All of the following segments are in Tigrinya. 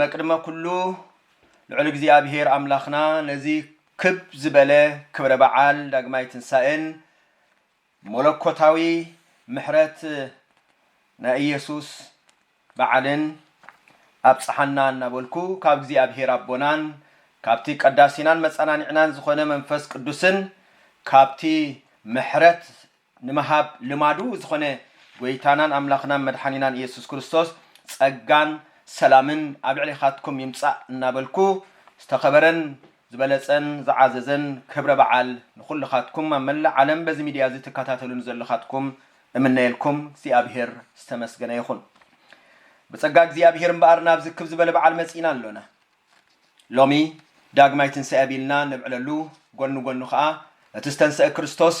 መቅድመ ኩሉ ልዑል እግዚኣብሔር ኣምላክና ነዚ ክብ ዝበለ ክብረ በዓል ዳግማይ ትንሳኤን ሞለኮታዊ ምሕረት ናይ እየሱስ በዓልን ኣብጽሓና እናበልኩ ካብ እግዚኣብሔር ኣቦናን ካብቲ ቀዳሲናን መጸናኒዕናን ዝኾነ መንፈስ ቅዱስን ካብቲ ምሕረት ንምሃብ ልማዱ ዝኾነ ጎይታናን ኣምላኽናን መድሓኒናን ኢየሱስ ክርስቶስ ጸጋን ሰላምን ኣብ ልዕሌኻትኩም ይምጻእ እናበልኩ ዝተኸበረን ዝበለጸን ዝዓዘዘን ክብረ በዓል ንኹልኻትኩም ኣብ መላእ ዓለም በዚ ሚድያ እዚ ትከታተሉኒ ዘለኻትኩም እምነየልኩም እግዚኣብሔር ዝተመስገነ ይኹን ብጸጋ እግዚኣብሔር እምበኣር ናብዚ ክብ ዝበለ በዓል መጺእና ኣሎና። ሎሚ ዳግማይ ትንሳኤ ቢልና ነብዕለሉ ጎኒ ጎኑ ከኣ እቲ ዝተንሰኣ ክርስቶስ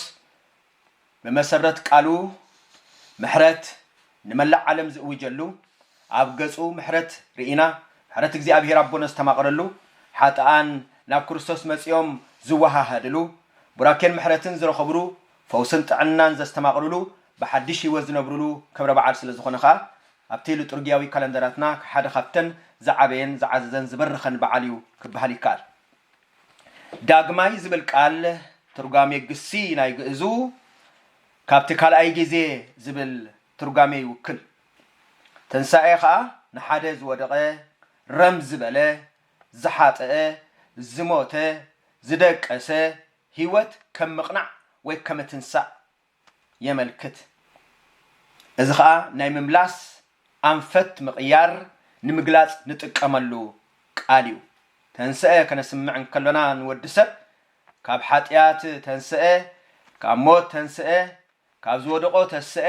ብመሰረት ቃሉ ምሕረት ንመላእ ዓለም ዝእውጀሉ ኣብ ገጹ ምሕረት ርኢና ምሕረት እግዚኣብሄር ኣቦ ነስተማቕረሉ ሓጥኣን ናብ ክርስቶስ መጺኦም ዝወሃሃድሉ ቡራኬን ምሕረትን ዝረኸብሉ ፈውስን ጥዕናን ዘስተማቕርሉ ብሓድሽ ህይወት ዝነብርሉ ክብረ በዓል ስለዝኾነ ከኣ ኣብቲ ልጡርጊያዊ ካለንደራትና ሓደ ካብተን ዝዓበየን ዝዓዘዘን ዝበረኸን በዓል እዩ ክበሃል ይከኣል። ዳግማይ ዝብል ቃል ትርጓሜ ግሲ ናይ ግእዙ ካብቲ ካልኣይ ጊዜ ዝብል ትርጓሜ ይውክል። ትንሳኤ ከኣ ንሓደ ዝወደቐ፣ ረም ዝበለ፣ ዝሓጠኣ፣ ዝሞተ፣ ዝደቀሰ ህይወት ከም ምቕናዕ ወይ ከመትንሳእ የመልክት። እዚ ከኣ ናይ ምምላስ ኣንፈት ምቕያር ንምግላጽ ንጥቀመሉ ቃል እዩ። ተንሥኤ ከነስምዕ እንከሎና ንወዲ ሰብ ካብ ሓጢኣት ተንሥኤ፣ ካብ ሞት ተንሥኤ፣ ካብ ዝወደቖ ተሥኤ፣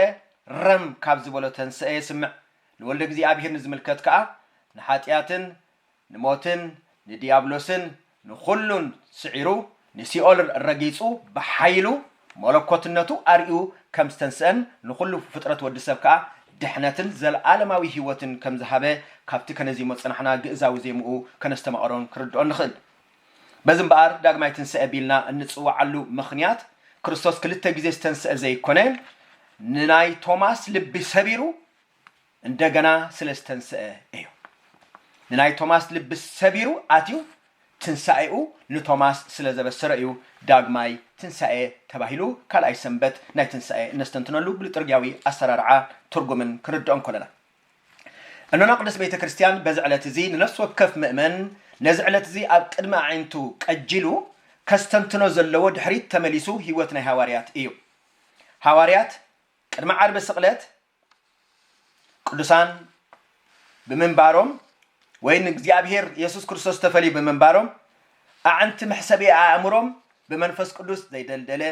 ረም ካብ ዝበሎ ተንሥኤ የስምዕ። ንወልደ እግዚኣብሔር ንዝምልከት ከኣ ንሓጢኣትን ንሞትን ንድያብሎስን ንኹሉን ስዒሩ ንሲኦል ረጊጹ ብሓይሉ መለኮትነቱ ኣርእዩ ከም ዝተንስኣን ንኹሉ ፍጥረት ወዲ ሰብ ከኣ ድሕነትን ዘልኣለማዊ ህይወትን ከም ዝሃበ ካብቲ ከነዚሞ ዝጸናሕና ግእዛዊ ዜምኡ ከነስተማቕሮን ክንርድኦን ንኽእል። በዚ እምበኣር ዳግማይ ትንሳኤ ቢልና እንጽውዓሉ ምኽንያት ክርስቶስ ክልተ ግዜ ዝተንስኣ ዘይኮነ ንናይ ቶማስ ልቢ ሰቢሩ እንደገና ስለ ዝተንሰኣ እዩ። ንናይ ቶማስ ልቢ ሰቢሩ ኣትዩ ትንሳኤኡ ንቶማስ ስለ ዘበሰረ እዩ ዳግማይ ትንሳኤ ተባሂሉ ካልኣይ ሰንበት ናይ ትንሳኤ እነስተንትነሉ ብልጥርግያዊ ኣሰራርዓ ትርጉምን ክንርድኦ እንከለና እኖና ቅድስት ቤተ ክርስቲያን በዚ ዕለት እዚ ንነፍሲ ወከፍ ምእመን ነዚ ዕለት እዚ ኣብ ቅድሚ ኣዒንቱ ቀጂሉ ከስተንትኖ ዘለዎ ድሕሪት ተመሊሱ ህይወት ናይ ሃዋርያት እዩ ሃዋርያት ቅድሚ ዓርቢ ስቕለት ቅዱሳን ብምንባሮም ወይ ንእግዚኣብሔር የሱስ ክርስቶስ ተፈልዩ ብምንባሮም ኣዕንቲ መሕሰቢ ኣእምሮም ብመንፈስ ቅዱስ ዘይደልደለ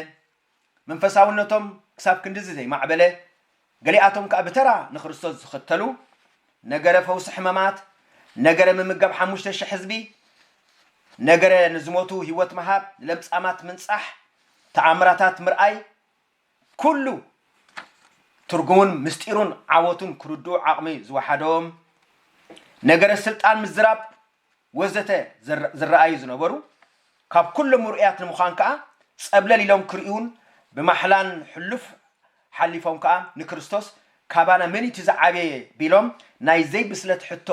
መንፈሳውነቶም ክሳብ ክንድዚ ዘይማዕበለ ገሊኣቶም ከዓ ብተራ ንክርስቶስ ዝኽተሉ ነገረ ፈውሲ ሕመማት ነገረ ምምገብ ሓሙሽተ ሽሕ ህዝቢ ነገረ ንዝሞቱ ህይወት ምሃብ ንለምጻማት ምንጻሕ ተኣምራታት ምርኣይ ኩሉ ትርጉሙን ምስጢሩን ዓወቱን ክርድኡ ዓቕሚ ዝወሓዶም፣ ነገረ ስልጣን ምዝራብ ወዘተ ዝረኣዩ ዝነበሩ፣ ካብ ኩሎም ምርኡያት ንምዃን ከኣ ጸብለል ኢሎም ክርእዩን ብማሕላን ሕሉፍ ሓሊፎም ከኣ ንክርስቶስ ካባና መን'ዩ'ቲ ዝዓበየ ቢሎም ናይ ዘይብስለት ሕቶ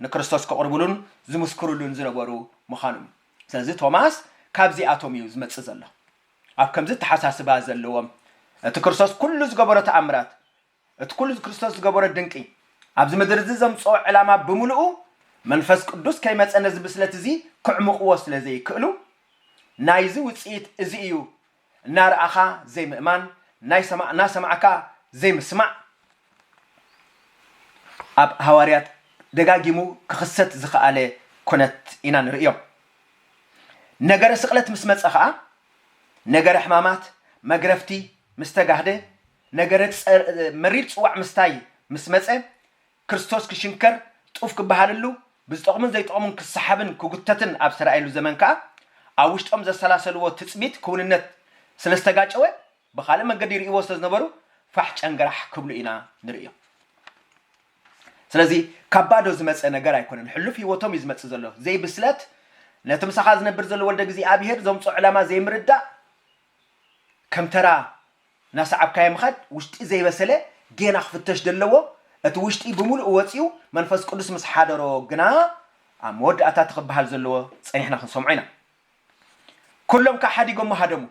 ንክርስቶስ ከቕርቡሉን ዝምስክሩሉን ዝነበሩ ምዃኖም'ዩ። ስለዚ ቶማስ ካብዚኣቶም'ዩ ዝመጽእ ዘሎ። ኣብ ከምዚ እተሓሳስባ ዘለዎም እቲ ክርስቶስ ኩሉ ዝገበሮ ተኣምራት እቲ ኩሉ ክርስቶስ ዝገበሮ ድንቂ ኣብዚ ምድሪ እዚ ዘምጽኦ ዕላማ ብምሉኡ መንፈስ ቅዱስ ከይመጸ ነዚ ብስለት እዚ ክዕሙቕዎ ስለ ዘይክእሉ ናይዚ ውጽኢት እዚ እዩ እናረኣኻ ዘይምእማን ናይሰማእናሰማዕካ ዘይምስማዕ ኣብ ሃዋርያት ደጋጊሙ ክኽሰት ዝኸኣለ ኩነት ኢና ንርእዮ። ነገረ ስቕለት ምስ መጸ ኸኣ ነገረ ሕማማት፣ መግረፍቲ፣ ምስ ተጋህደ፣ ነገረ መሪር ጽዋዕ ምስታይ ምስ መጸ፣ ክርስቶስ ክሽንከር፣ ጡፍ ክበሃልሉ፣ ብዝጠቕሙን ዘይጠቕሙን ክሰሓብን ክጉተትን ኣብ ዝተራእየሉ ዘመን ከኣ፣ ኣብ ውሽጦም ዘሰላሰልዎ ትጽቢት ክውንነት ስለ ዝተጋጨወ ብኻልእ መንገዲ ይርእይዎ ስለ ዝነበሩ ፋሕ ጨንገራሕ ክብሉ ኢና ንርእዮም። ስለዚ ካብ ባዶ ዝመጸ ነገር ኣይኮነን፣ ሕሉፍ ህይወቶም እዩ ዝመጽእ ዘሎ። ዘይብስለት፣ ነቲ ምሳኻ ዝነብር ዘሎ ወልደ እግዚኣብሄር ዘምጽኦ ዕላማ ዘይምርዳእ፣ ከም ተራ እናሰዓብካዮ ምኻድ፣ ውሽጢ ዘይበሰለ ጌና ክፍተሽ ዘለዎ፣ እቲ ውሽጢ ብምሉኡ ወጺኡ መንፈስ ቅዱስ ምስ ሓደሮ ግና ኣብ መወዳእታ እቲ ክበሃል ዘለዎ ጸኒሕና ክንሰምዖ ኢና። ኩሎም ከኣ ሓዲጎሞ ሃደሙ፣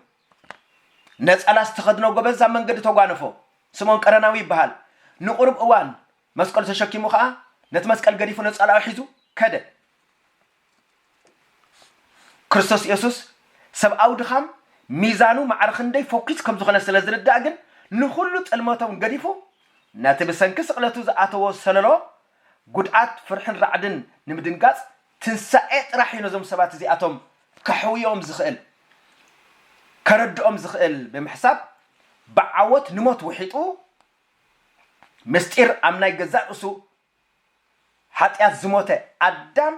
ነጸላ ዝተኸድኖ ጎበዝ ኣብ መንገዲ ተጓነፎ። ስምኦን ቀረናዊ ይበሃል። ንቑሩብ እዋን መስቀሉ ተሸኪሙ ከኣ ነቲ መስቀል ገዲፉ ነጸላኡ ሒዙ ከደ። ክርስቶስ የሱስ ሰብኣዊ ድኻም ሚዛኑ ማዕረ ክንደይ ፈኲስ ከም ዝኾነ ስለ ዝርዳእ ግን ንኹሉ ጥልመቶም ገዲፉ ነቲ ብሰንኪ ስቕለቱ ዝኣተዎ ሰለሎ ጉድኣት ፍርሕን ራዕድን ንምድንጋጽ ትንሳኤ ጥራሕ እዩ ነዞም ሰባት እዚኣቶም ከሕውዮም ዝኽእል፣ ከረድኦም ዝኽእል ብምሕሳብ ብዓወት ንሞት ውሒጡ ምስጢር ኣብ ናይ ገዛእ ርእሱ ሓጢኣት ዝሞተ ኣዳም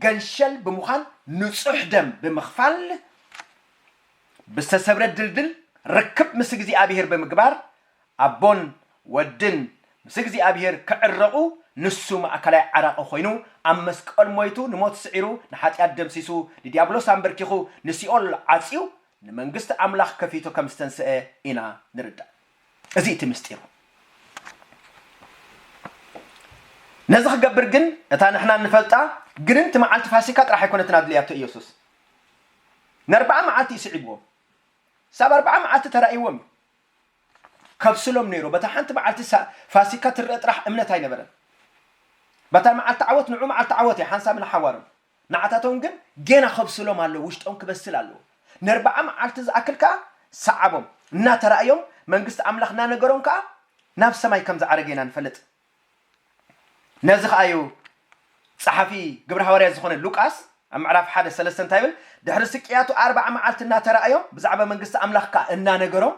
ገንሸል ብምዃን ንጹሕ ደም ብምኽፋል ብዝተሰብረ ድልድል ርክብ ምስ እግዚኣብሄር ብምግባር ኣቦን ወድን ምስ እግዚኣብሄር ክዕረቑ ንሱ ማእከላይ ዓራቒ ኮይኑ ኣብ መስቀል ሞይቱ ንሞት ስዒሩ ንሓጢኣት ደምሲሱ ንድያብሎስ ኣምበርኪኹ ንሲኦል ዓጽዩ ንመንግስቲ ኣምላኽ ከፊቱ ከም ዝተንስኣ ኢና ንርዳእ እዚ እቲ ምስጢሩ ነዚ ክገብር ግን እታ ንሕና እንፈልጣ ግንንቲ መዓልቲ ፋሲካ ጥራሕ ኣይኮነትን ኣድልያቶ ኢየሱስ ንኣርብዓ መዓልቲ እዩ ስዒብዎም ሳብ ኣርብዓ መዓልቲ ተራእይዎም እዩ ከብስሎም ነይሩ። በታ ሓንቲ መዓልቲ ፋሲካ ትረኣ ጥራሕ እምነት ኣይነበረን። በታ መዓልቲ ዓወት ንዑ መዓልቲ ዓወት እያ ሓንሳብ ንሓዋሩን። ንዓታቶም ግን ጌና ከብስሎም ኣለዎ፣ ውሽጦም ክበስል ኣለዎ። ነርብዓ መዓልቲ ዝኣክል ከኣ ሰዓቦም። እናተራእዮም መንግስቲ ኣምላኽ እናነገሮም ከኣ ናብ ሰማይ ከም ዝዓረገ ኢና ንፈልጥ። ነዚ ኸኣ እዩ ጸሓፊ ግብሪ ሃዋርያት ዝኾነ ሉቃስ ኣብ ምዕራፍ ሓደ ሰለስተ እንታይ ይብል? ድሕሪ ስቅያቱ ኣርብዓ መዓልቲ እናተራእዮም ብዛዕባ መንግስቲ ኣምላኽ ከኣ እናነገሮም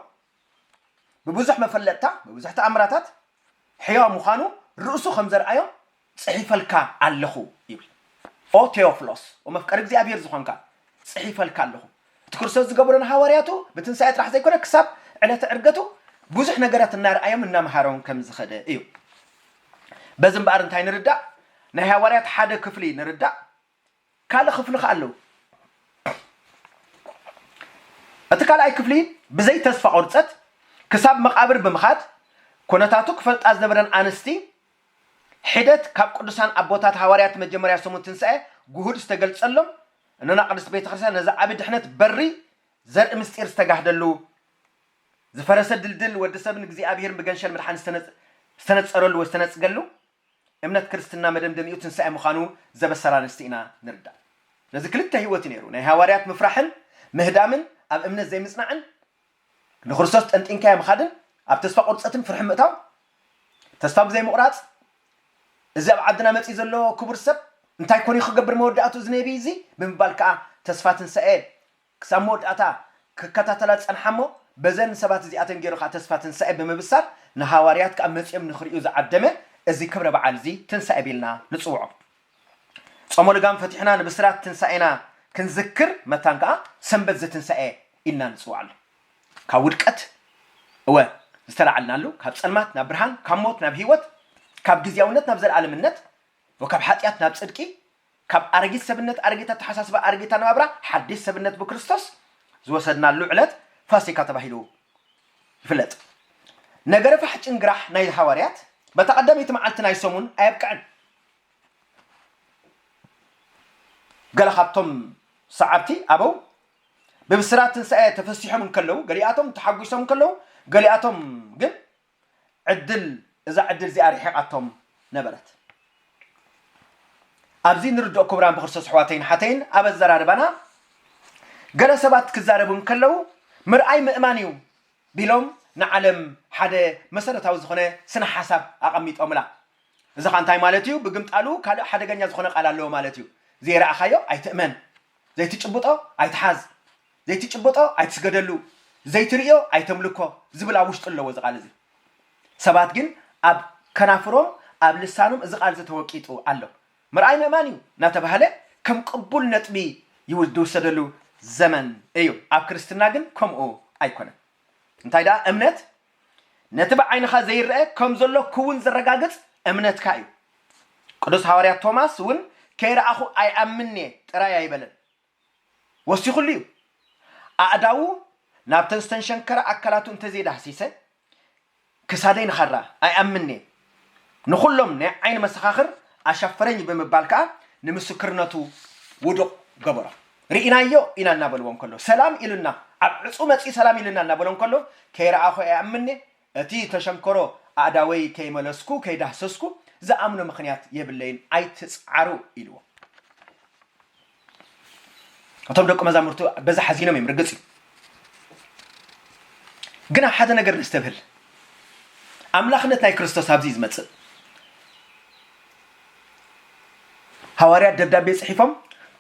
ብብዙሕ መፈለጥታ ብብዙሕ ተኣምራታት ሕያው ምዃኑ ርእሱ ከም ዘርኣዮም ጽሒፈልካ ኣለኹ ይብል። ኦ ቴዎፍሎስ ወመፍቀሪ እግዚኣብሔር ዝኾንካ ጽሒፈልካ ኣለኹ። እቲ ክርስቶስ ዝገበሮ ንሃዋርያቱ ብትንሳኤ ጥራሕ ዘይኮነ ክሳብ ዕለተ ዕርገቱ ብዙሕ ነገራት እናርኣዮም እናምሃሮም ከም ዝኸደ እዩ። በዚ እምበኣር እንታይ ንርዳእ? ናይ ሃዋርያት ሓደ ክፍሊ ንርዳእ፣ ካልእ ክፍሊ ከዓ ኣለዉ። እቲ ካልኣይ ክፍሊ ብዘይ ተስፋ ቁርፀት ክሳብ መቓብር ብምኻድ ኩነታቱ ክፈልጣ ዝነበረን ኣንስቲ ሒደት ካብ ቅዱሳን ኣቦታት ሃዋርያት መጀመርያ ሰሙን ትንሳኤ ግሁድ ዝተገልፀሎም እኖና ቅድስት ቤተክርስቲያን ነዚ ዓቢ ድሕነት በሪ ዘርኢ ምስጢር ዝተጋህደሉ ዝፈረሰ ድልድል ወዲ ሰብን እግዚኣብሔርን ብገንሸል ምድሓን ዝተነጸረሉ ወይ ዝተነጽገሉ እምነት ክርስትና መደምደሚኡ ትንሳኤ ምዃኑ ዘበሰራ ኣንስቲ ኢና ንርዳእ ስለዚ ክልተ ሕይወት እዩ ነይሩ ናይ ሃዋርያት ምፍራሕን ምህዳምን ኣብ እምነት ዘይምጽናዕን ንክርስቶስ ጠንጢንካዮ ምኻድን ኣብ ተስፋ ቁርጸትን ፍርሒ ምእታው ተስፋ ብዘይ ምቑራጽ እዚ ኣብ ዓድና መጺኡ ዘሎ ክቡር ሰብ እንታይ ኮን እዩ ክገብር መወዳእትኡ እዚ ነቢ እዚ ብምባል ከኣ ተስፋ ትንሳኤ ክሳብ መወዳእታ ክከታተላ ዝጸንሓ እሞ በዘን ሰባት እዚኣተን ገይሩ ከኣ ተስፋ ትንሳኤ ብምብሳር ንሃዋርያት ከኣ መጺኦም ንክርእዩ ዝዓደመ እዚ ክብረ በዓል እዚ ትንሳኤ ቢልና ንጽውዖ። ጾመ ልጓም ፈቲሕና ንብስራት ትንሳኤና ክንዝክር መታን ከኣ ሰንበት ዘትንሳኤ ኢልና ንጽውዓሉ። ካብ ውድቀት እወ ዝተላዓልናሉ፣ ካብ ጸልማት ናብ ብርሃን፣ ካብ ሞት ናብ ሕይወት፣ ካብ ግዝያውነት ናብ ዘለዓለምነት፣ እወ ካብ ሓጢኣት ናብ ጽድቂ፣ ካብ ኣረጊት ሰብነት፣ ኣረጊት ኣተሓሳስባ፣ ኣረጊት ኣነባብራ፣ ሓዲስ ሰብነት ብክርስቶስ ዝወሰድናሉ ዕለት ፋሲካ ተባሂሉ ይፍለጥ። ነገረ ፋሕ ጭንግራሕ ናይ ሃዋርያት በታ ቀዳመይቲ መዓልቲ ናይ ሰሙን ኣየብቅዕን። ገለ ካብቶም ሰዓብቲ ኣበው ብብስራት ትንሳኤ ተፈሲሖም እንከለዉ ገሊኣቶም ተሓጒሶም እንከለዉ ገሊኣቶም ግን ዕድል እዛ ዕድል እዚኣ ርሒቓቶም ነበረት ኣብዚ ንርድኦ ክቡራን ብክርስቶስ ኣሕዋተይን ሓተይን ኣብ ኣዘራርባና ገለ ሰባት ክዛረቡ እንከለዉ ምርኣይ ምእማን እዩ ቢሎም ንዓለም ሓደ መሰረታዊ ዝኾነ ስነ ሓሳብ ኣቐሚጦምላ እዚ ኸኣ እንታይ ማለት እዩ? ብግምጣሉ ካልእ ሓደገኛ ዝኾነ ቃል ኣለዎ ማለት እዩ። ዘይረኣኻዮ ኣይትእመን፣ ዘይትጭብጦ ኣይትሓዝ፣ ዘይትጭብጦ ኣይትስገደሉ፣ ዘይትርእዮ ኣይተምልኮ ዝብል ኣብ ውሽጡ ኣለዎ እዚ ቃል እዚ። ሰባት ግን ኣብ ከናፍሮም ኣብ ልሳኖም እዚ ቃል እዚ ተወቂጡ ኣሎ። ምርኣይ ምእማን እዩ እናተባህለ ከም ቅቡል ነጥቢ ዝውሰደሉ ዘመን እዩ። ኣብ ክርስትና ግን ከምኡ ኣይኮነን። እንታይ ደኣ እምነት ነቲ ብዓይንኻ ዘይረኣ ከም ዘሎ ክውን ዘረጋግጽ እምነትካ እዩ። ቅዱስ ሓዋርያ ቶማስ እውን ከይረኣኹ ኣይኣምንን እየ ጥራይ ኣይበለን። ወሲኹሉ እዩ። ኣእዳዉ ናብተን ዝተንሸንከራ ኣካላቱ እንተዘይዳህሲሰ ክሳደይ ንኻራ ኣይኣምንን እየ ንኹሎም ናይ ዓይኒ መሰኻኽር ኣሻፈረኝ ብምባል ከኣ ንምስክርነቱ ውዱቕ ገበሮ። ርኢናዮ ኢና እናበልዎ እንከሎ፣ ሰላም ኢሉና፣ ኣብ ዕጹ መጺኡ ሰላም ኢሉና እናበሎ እንከሎ፣ ከይረኣኹ ኣይኣምንን'የ፣ እቲ እተሸንከሮ ኣእዳወይ ከይመለስኩ ከይዳህሰስኩ ዝኣምኖ ምኽንያት የብለይን፣ ኣይትጽዓሩ ኢልዎ። እቶም ደቂ መዛሙርቱ በዛ ሓዚኖም እዮም ርግጽ እዩ ግን ኣብ ሓደ ነገር ነስተብህል ኣምላኽነት ናይ ክርስቶስ ኣብዚ ዝመጽእ ሃዋርያት ደብዳቤ ጽሒፎም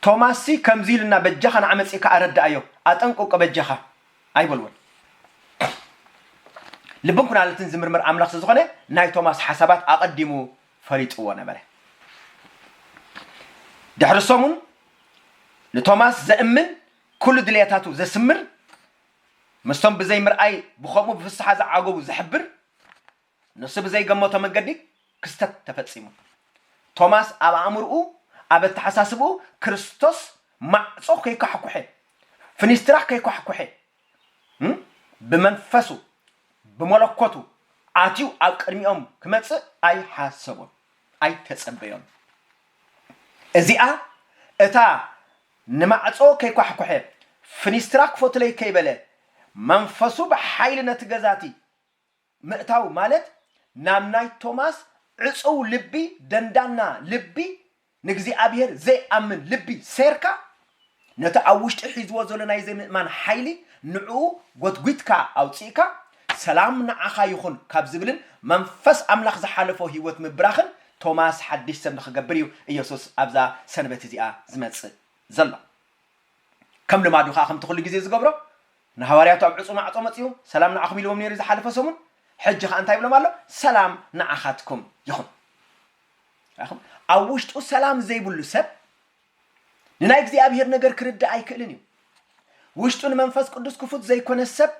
ቶማስ ሲ ከምዚ ኢሉና በጃኻ ንዓ መጺእካ ኣረዳኣዮ ኣጠንቅቆ በጃኻ ኣይበልዎን ልብን ኩናለትን ዝምርምር ኣምላኽ ስለዝኾነ ናይ ቶማስ ሓሳባት ኣቐዲሙ ፈሊጥዎ ነበረ። ድሕሪ ሰሙን ንቶማስ ዘእምን ኩሉ ድልየታቱ ዘስምር ምስቶም ብዘይ ምርኣይ ብኸምኡ ብፍስሓ ዝዓገቡ ዝሕብር ንሱ ብዘይገመቶ መንገዲ ክስተት ተፈጺሙ። ቶማስ ኣብ ኣእምርኡ ኣብ ኣተሓሳስብኡ ክርስቶስ ማዕጾ ከይኳሕኩሐ ፍኒስትራ ከይኳሕኩሐ ብመንፈሱ ብመለኮቱ ኣትዩ ኣብ ቅድሚኦም ክመጽእ ኣይሓሰቦን፣ ኣይተጸበዮን። እዚኣ እታ ንማዕጾ ከይኳሕኩሐ ፍኒስትራ ክፈቱለይ ከይበለ መንፈሱ ብሓይሊ ነቲ ገዛ'ቲ ምእታው ማለት ናብ ናይ ቶማስ ዕጹው ልቢ ደንዳና ልቢ ንእግዚኣብሄር ዘይኣምን ልቢ ሴርካ ነቲ ኣብ ውሽጢ ሒዝዎ ዘሎ ናይ ዘይምእማን ሓይሊ ንዕኡ ጎትጒትካ ኣውጺእካ ሰላም ንዓኻ ይኹን ካብ ዝብልን መንፈስ ኣምላኽ ዝሓለፎ ህይወት ምብራኽን ቶማስ ሓድሽ ሰብ ንኽገብር እዩ ኢየሱስ ኣብዛ ሰንበት እዚኣ ዝመጽእ ዘሎ ከም ልማዱ ከኣ ከምቲ ኩሉ ግዜ ዝገብሮ ንሃዋርያቱ ኣብ ዕጹው ማዕጾ መጺኡ ሰላም ንዓኹም ኢልዎም ነይሩ ዝሓለፈ ሰሙን፣ ሕጂ ኸኣ እንታይ ይብሎም ኣሎ? ሰላም ንዓኻትኩም ይኹን። ርኣኹም? ኣብ ውሽጡ ሰላም ዘይብሉ ሰብ ንናይ እግዚኣብሄር ነገር ክርዳእ ኣይክእልን እዩ። ውሽጡ ንመንፈስ ቅዱስ ክፉት ዘይኮነ ሰብ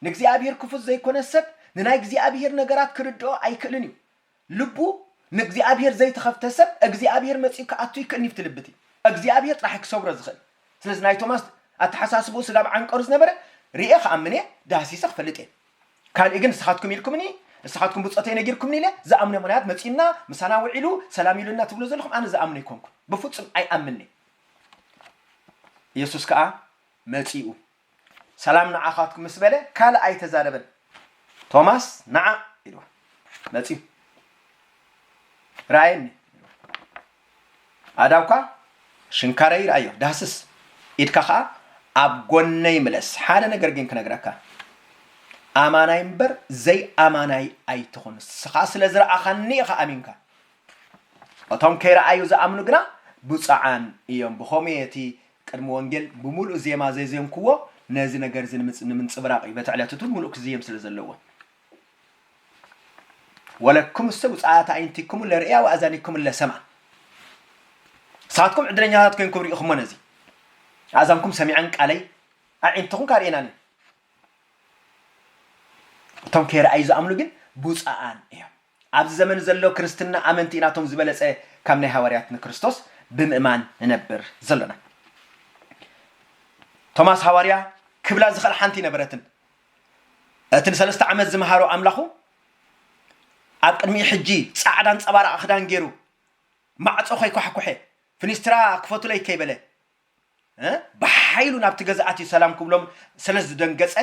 ንእግዚኣብሄር ክፉት ዘይኮነ ሰብ ንናይ እግዚኣብሄር ነገራት ክርድኦ ኣይክእልን እዩ። ልቡ ንእግዚኣብሄር ዘይተኸፍተ ሰብ እግዚኣብሄር መጺኡ ክኣቱ ይክእልኒ ኣብቲ ልቢ እቲ እግዚኣብሄር ጥራሕ እዩ ክሰብሮ ዝኽእል ስለዚ ናይ ቶማስ ኣተሓሳስብኡ ስጋብ ዓንቀሩ ዝነበረ ሪኤ ክኣምን እየ ዳህሲሰ ክፈልጥ እየ ካልእ ግን ንስኻትኩም ኢልኩምኒ ንስኻትኩም ብጾተይ ነጊርኩምኒ ኢለ ዝኣምኖ ምኽንያት መጺኡና ምሳና ውዒሉ ሰላም ኢሉና ትብሉ ዘለኹም ኣነ ዝኣምኖ ኣይኮንኩን ብፍጹም ኣይኣምንንየ ኢየሱስ ከኣ መጺኡ ሰላም ንዓኻትኩም ምስ በለ ካልእ ኣይተዛረበን። ቶማስ ንዓ ኢልዋ መጺኡ ረኣየኒ ኢልዋ። ኣእዳውካ ሽንካረይ ረኣዮ ዳህስስ ኢድካ ከኣ ኣብ ጎነይ ምለስ። ሓደ ነገር ግን ክነግረካ ኣማናይ እምበር ዘይኣማናይ ኣይትኹን። ንስኻ ስለ ዝረኣኻኒ ኢኻ ኣሚንካ። እቶም ከይረኣዩ ዝኣምኑ ግና ብፁዓን እዮም። ብኸምኡ እቲ ቅድሚ ወንጌል ብምሉእ ዜማ ዜዜምኩዎ ነዚ ነገር እዚ ንምንጽብራቕ እዩ፣ በቲ ዕለት እቱ ምሉእ ክዝየም ስለ ዘለዎ። ወለክሙሰ ብፁዓት ኣዒንቲክሙ ለርእያ ወኣእዛኒክሙ ለሰምዓ፣ ንስኻትኩም ዕድለኛታት ኮይንኩም ርኢኹሞ ነዚ፣ ኣእዛንኩም ሰሚዐን ቃለይ፣ ኣዒንትኹም ከኣ ርእየናን እየን፣ እቶም ከይረኣዩ ዝኣምኑ ግን ብፁዓን እዮም። ኣብዚ ዘመን ዘሎ ክርስትና ኣመንቲ ኢና እቶም ዝበለጸ ካብ ናይ ሃዋርያት ንክርስቶስ ብምእማን ንነብር ዘሎና። ቶማስ ሃዋርያ ክብላ ዝኸእል ሓንቲ ነበረትን እቲ ንሰለስተ ዓመት ዝመሃሮ ኣምላኹ ኣብ ቅድሚኡ ሕጂ ጻዕዳ ኣንጸባራቒ ክዳን ገይሩ ማዕጾ ከይኳሕኩሐ ፍኒስትራ ክፈቱለይ ከይበለ ብሓይሉ ናብቲ ገዛኣቲ ሰላም ክብሎም ስለ ዝደንገጸ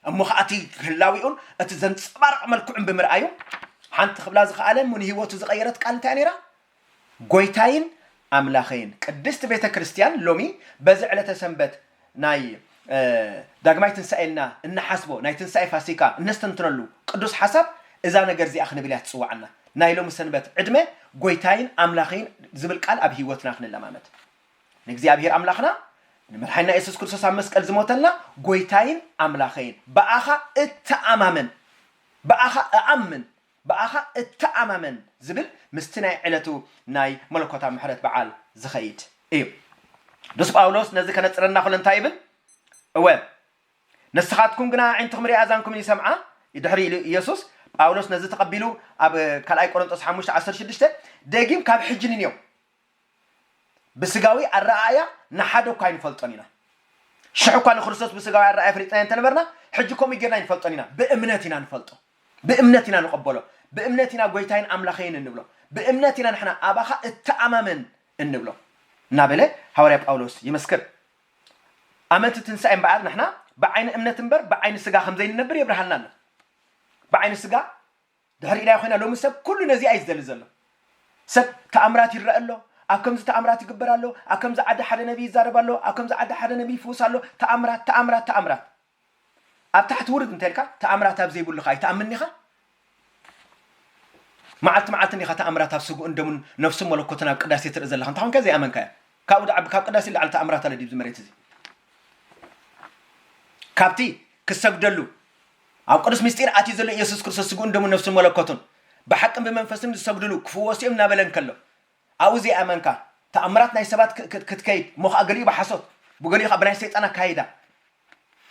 እሞ ኸኣ እቲ ህላዊኡን እቲ ዘንጸባርቕ መልክዑን ብምርኣዩ ሓንቲ ክብላ ዝኸኣለ እሞ ንህይወቱ ዝቐየረት ቃል እንታይ ነይራ? ጎይታይን ኣምላኸይን ቅድስት ቤተ ክርስቲያን ሎሚ በዚ ዕለተ ሰንበት ናይ ዳግማይ ትንሳኤ እና እንሓስቦ ናይ ትንሳኤ ፋሲካ እነስተንትነሉ ቅዱስ ሓሳብ እዛ ነገር እዚኣ ክንብል እያ ትጽውዓና ናይ ሎሚ ሰንበት ዕድመ ጎይታይን ኣምላኸይን ዝብል ቃል ኣብ ህይወትና ክንለማመድ ንእግዚኣብሔር ኣምላኽና ንመድሓኒና የሱስ ክርስቶስ ኣብ መስቀል ዝሞተልና ጎይታይን ኣምላኸይን ብኣኻ እተኣማመን ብኣኻ እኣምን ብኣኻ እተኣማመን ዝብል ምስቲ ናይ ዕለቱ ናይ መለኮታዊ ምሕረት በዓል ዝኸይድ እዩ። ቅዱስ ጳውሎስ ነዚ ከነጽረና ከሎ እንታይ ይብል? እወ ንስኻትኩም ግና ኣዒንትኹም ሪኣ ኣዛንኩምን ይሰምዓ ድሕሪ ኢሉ ኢየሱስ ጳውሎስ ነዚ ተቐቢሉ ኣብ ካልኣይ ቆሮንጦስ ሓሙሽተ ዓሰርተ ሽዱሽተ ደጊም ካብ ሕጂ ንንየው ብስጋዊ ኣረኣእያ ንሓደ እኳ ኣይንፈልጦን ኢና። ሽሕ እኳ ንክርስቶስ ብስጋዊ ኣረኣእያ ፈሊጥናዮ እንተ ነበርና፣ ሕጂ ከምኡ ጌርና ኣይንፈልጦን ኢና። ብእምነት ኢና ንፈልጦ። ብእምነት ኢና ንቐበሎ። ብእምነት ኢና ጐይታይን ኣምላኸይን እንብሎ። ብእምነት ኢና ንሕና ኣባኻ እተኣማመን እንብሎ እናበለ ሃዋርያ ጳውሎስ ይምስክር። ኣመንቲ ትንሳኤ እምበኣር ንሕና ብዓይኒ እምነት እምበር ብዓይኒ ስጋ ከም ዘይንነብር የብርሃልና ኣሎ። ብዓይኒ ስጋ ድሕሪና ኮይና ሎሚ ሰብ ኩሉ ነዚኣ እዩ ዝደሊ ዘሎ ሰብ ተኣምራት ይረኣ ኣሎ ኣብ ከምዚ ተኣምራት ይግበር ኣሎ ኣብ ከምዚ ዓዲ ሓደ ነብይ ይዛረብ ኣሎ ኣብ ከምዚ ዓዲ ሓደ ነብይ ይፍውስ ኣሎ ተኣምራት ተኣምራት ተኣምራት ኣብ ታሕቲ ውርድ እንተልካ ተኣምራት ኣብ ዘይብሉ ከ ኣይትኣምን ዲኻ መዓልቲ መዓልቲ እንዲኻ ተኣምራት ኣብ ስግኡን ደሙን ነፍሱን መለኮትን ኣብ ቅዳሴ ትርኢ ዘለኻ እንታይ ኮንካ ዘይኣመንካዮ ካብኡ ድዓቢ ካብ ቅዳሴ ላዕሊ ተኣምራት ኣለ ዲብዚ መሬት እዚ ካብቲ ክሰግደሉ ኣብ ቅዱስ ምስጢር ኣትዩ ዘሎ ኢየሱስ ክርስቶስ ስግኡን ደሙን ነፍሱን መለኮቱን ብሓቅን ብመንፈስን ዝሰግድሉ ክፍወሱ እዮም እናበለ እንከሎ ኣብኡ ዘይኣመንካ ተኣምራት ናይ ሰባት ክትከይድ እሞ ከዓ ገሊኡ ብሓሶት ብገሊኡ ከዓ ብናይ ሰይጣን ኣካይዳ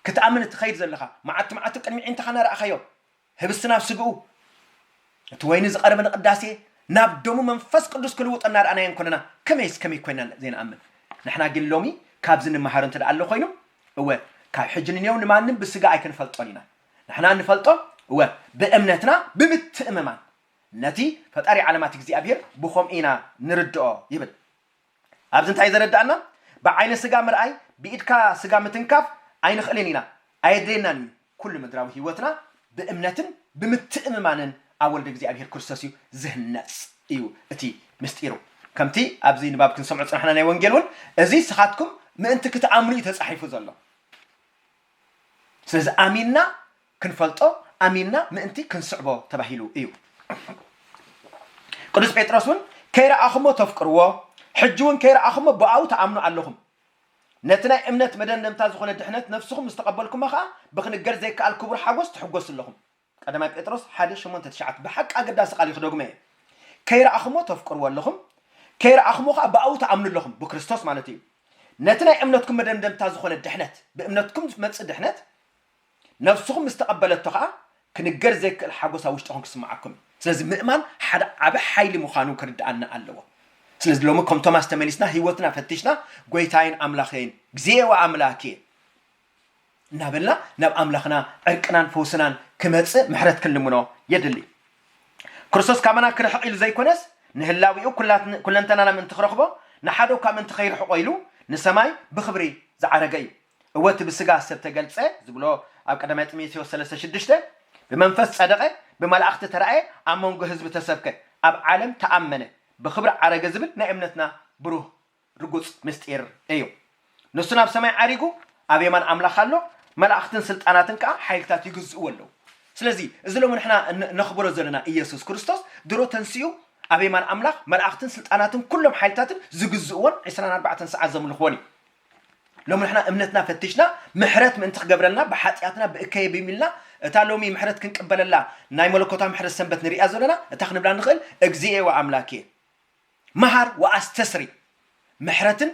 ክትኣምን እትኸይድ ዘለኻ መዓልቲ መዓልቲ ቅድሚ ዒንትኻ እናረኣኻዮ ህብስቲ ናብ ስግኡ እቲ ወይኒ ዝቐረበ ንቅዳሴ ናብ ደሙ መንፈስ ቅዱስ ክልውጦ እናረኣናዮ እንኮለና ከመይስ ከመይ ኮይና ዘይንኣምን ንሕና ግን ሎሚ ካብዚ ንመሃር እንተ ኣሎ ኮይኑ እወ፣ ካብ ሕጂ ንኔው ንማንም ብስጋ ኣይክንፈልጦን ኢና። ንሕና እንፈልጦ፣ እወ፣ ብእምነትና ብምትእምማን ነቲ ፈጣሪ ዓለማት እግዚኣብሄር ብኸምኡ ኢና ንርድኦ ይብል። ኣብዚ እንታይ እዩ ዘረድኣና? ብዓይነ ስጋ ምርኣይ፣ ብኢድካ ስጋ ምትንካፍ ኣይንኽእልን ኢና፣ ኣየድልየናን እዩ። ኩሉ ምድራዊ ሕይወትና ብእምነትን ብምትእምማንን ኣብ ወልደ እግዚኣብሔር ክርስቶስ እዩ ዝህነጽ እዩ እቲ ምሥጢሩ። ከምቲ ኣብዚ ንባብ ክንሰምዖ ዝጸናሕና ናይ ወንጌል እውን እዚ ንስኻትኩም ምእንቲ ክትኣምኑ እዩ ተጻሒፉ ዘሎ። ስለዚ ኣሚንና ክንፈልጦ ኣሚንና ምእንቲ ክንስዕቦ ተባሂሉ እዩ። ቅዱስ ጴጥሮስ እውን ከይረኣኹሞ ተፍቅርዎ ሕጂ እውን ከይረኣኹሞ ብኣኡ ተኣምኑ ኣለኹም ነቲ ናይ እምነት መደምደምታ ዝኾነ ድሕነት ነፍስኹም ምስ ተቐበልኩማ ኸኣ ብኽንገር ዘይከኣል ክቡር ሓጐስ ትሕጐሱ ኣለኹም። ቀዳማይ ጴጥሮስ ሓደ ሸሞንተ ትሽዓተ ብሓቂ ኣገዳሲ ቃል እዩ ክደግሞ እየ። ከይረኣኹምዎ ተፍቅርዎ ኣለኹም፣ ከይረኣኹምዎ ኸኣ ብኣኡ ትኣምኑ ኣለኹም፣ ብክርስቶስ ማለተይ እዩ። ነቲ ናይ እምነትኩም መደምደምታ ዝኾነ ድሕነት፣ ብእምነትኩም ዝመጽእ ድሕነት፣ ነፍስኹም ምስ ተቐበለቶ ኸኣ ክንገር ዘይክእል ሓጐስ ኣብ ውሽጥኹም ክስምዓኩም እዩ። ስለዚ ምእማን ሓደ ዓቢ ሓይሊ ምዃኑ ክርድኣና ኣለዎ። ስለዚ ሎሚ ከም ቶማስ ተመሊስና ህይወትና ፈቲሽና ጐይታይን ኣምላኸይን፣ እግዚኦ ኣምላኬ፣ እናበልና ናብ ኣምላኽና ዕርቅናን ፈውስናን ክመጽእ ምሕረት ክንልምኖ የድሊ። ክርስቶስ ካባና ክርሕቕ ኢሉ ዘይኮነስ ንህላዌኡ ኩለንተናና ምእንቲ ክረኽቦ ንሓደ እኳ ምእንቲ ከይርሕቖ ኢሉ ንሰማይ ብኽብሪ ዝዓረገ እዩ። እወ እቲ ብስጋ ሰብ ተገልጸ ዝብሎ ኣብ ቀዳማይ ጢሞቴዎስ ሰለስተ ሽዱሽተ ብመንፈስ ጸደቐ፣ ብመላእኽቲ ተራእየ፣ ኣብ መንጎ ህዝቢ ተሰብከ፣ ኣብ ዓለም ተኣመነ፣ ብኽብሪ ዓረገ ዝብል ናይ እምነትና ብሩህ ርጉጽ ምስጢር እዩ። ንሱ ናብ ሰማይ ዓሪጉ ኣብ የማን ኣምላኽ ኣሎ፣ መላእኽትን ስልጣናትን ከኣ ሓይልታት ይግዝእዎ ኣለዉ። ስለዚ እዚ ሎሚ ንሕና ነኽብሮ ዘለና ኢየሱስ ክርስቶስ ድሮ ተንሲኡ ኣብ የማን ኣምላኽ መላእኽትን ስልጣናትን ኩሎም ሓይልታትን ዝግዝእዎን ዕስራን ኣርባዕተን ሰዓት ዘምልኽዎን እዩ። ሎሚ ንሕና እምነትና ፈቲሽና ምሕረት ምእንቲ ክገብረልና ብሓጢኣትና ብእከየ ብይም ኢልና እታ ሎሚ ምሕረት ክንቅበለላ ናይ መለኮታዊ ምሕረት ሰንበት ንሪኣ ዘለና እታ ክንብላ ንኽእል እግዚኤ ወኣምላኬ መሃር ወኣስተስሪ ምሕረትን